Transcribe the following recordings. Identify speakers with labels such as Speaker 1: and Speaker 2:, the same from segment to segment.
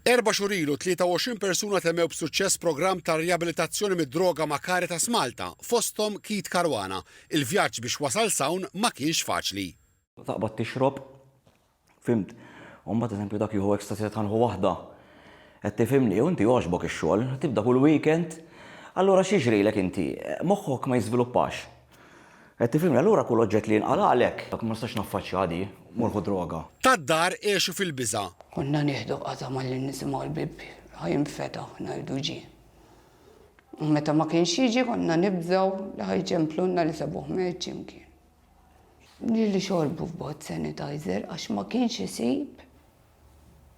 Speaker 1: Erba' xhur ilu, 23 persuna temmew b'suċċess programm ta' riabilitazzjoni mid-droga ma' Caritas Malta, fosthom Keith Caruana. Il-vjaġġ biex wasal s'hawn ma kienx faċli. Taqbad tixrob,
Speaker 2: fhimt? U mbagħad eżempju dak jieħu ecstasy ta' tħanħu waħda. Qed tifhimni? U inti jogħġbok ix-xogħol, tibda kull weekend. Allura x'jiġrilek inti? Moħħok ma jiżviluppax. Qed tifhimni, allura kull oġġett li jinqalagħlek, dak ma nistax naffaċċjah di, mur ħu droga. Tad-dar għexu
Speaker 1: fil-biża'. Konna nieħdu
Speaker 3: qata' malli nisimgħu l-bieb ħa jinfetaħ ngħidu ġie. U meta ma kienx jiġi konna nibżgħu li ħa jċemplulna li sabuh mejt xi mkien. Li li xorbu f'bot sanitizer għax ma kienx isib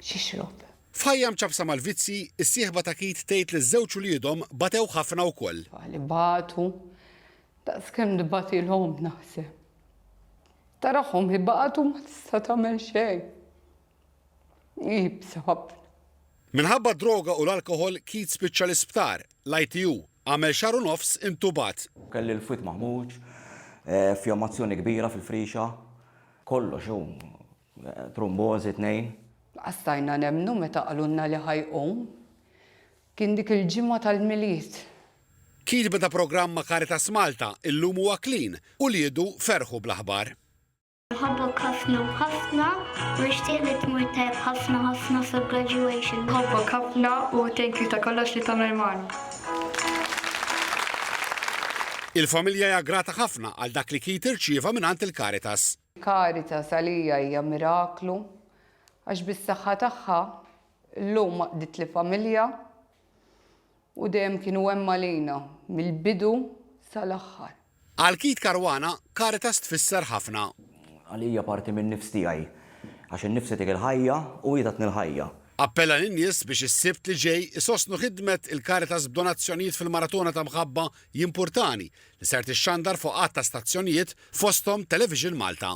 Speaker 3: x'ixrob. F'ħajja
Speaker 1: mċappsa mal-vizzji, is-sieħba ta' Keith tgħid li ż-żewġ uliedhom batewh ħafna wkoll. Tfal ibatu
Speaker 3: daqskemm tbatilhom naħseb. Tarahom ibatu ma tista' tagħmel xejn. Iebsa ħafna. Minħabba
Speaker 1: d-droga u l-alkoħol, Keith spiċċa l-isptar, l-ITU. Għamel xahar u nofs intubat. Kelli l-fwied maħmuġ,
Speaker 2: fjomazzjoni kbira fil-frixa. Kollox hu Trumbożi tnejn. Laqas stajna
Speaker 3: nemmnu meta qalulna li ħa jqum. Kien dik il-ġimgħa tal-Milied. Kitba
Speaker 1: ta' programm ma' Caritas Malta, Illum huwa clean, Uliedu ferħu bl-aħbar. Nħobbok
Speaker 4: ħafna u ħafna u nixtieq li tmur tajjeb ħafna ħafna fil graduation. Nħobbok ħafna
Speaker 5: u thank you ta' kollox li tagħmel magħna.
Speaker 1: Il-familja hija grata ħafna għal dak li Keith irċieva mingħand il-Caritas. Caritas
Speaker 3: għalija hija miraklu għax bis-saħħa tagħha llum għaqqditli familja u dejjem kienu hemm għalina mill-bidu sal-aħħar. Għal Keith
Speaker 1: Caruana, Caritas tfisser ħafna. Għalija parti
Speaker 2: min-nifs tiegħi għax in-nifs tagħtik il-ħajja u hi tatni l-ħajja. Appella lin-nies
Speaker 1: biex is-Sibt li ġej isostnu ħidmet il-Caritas b'donazzjonijiet fil-Maratona ta' Mħabba Jimpurtani li ser tixxandar fuq għadd ta' stazzjonijiet fosthom Television Malta.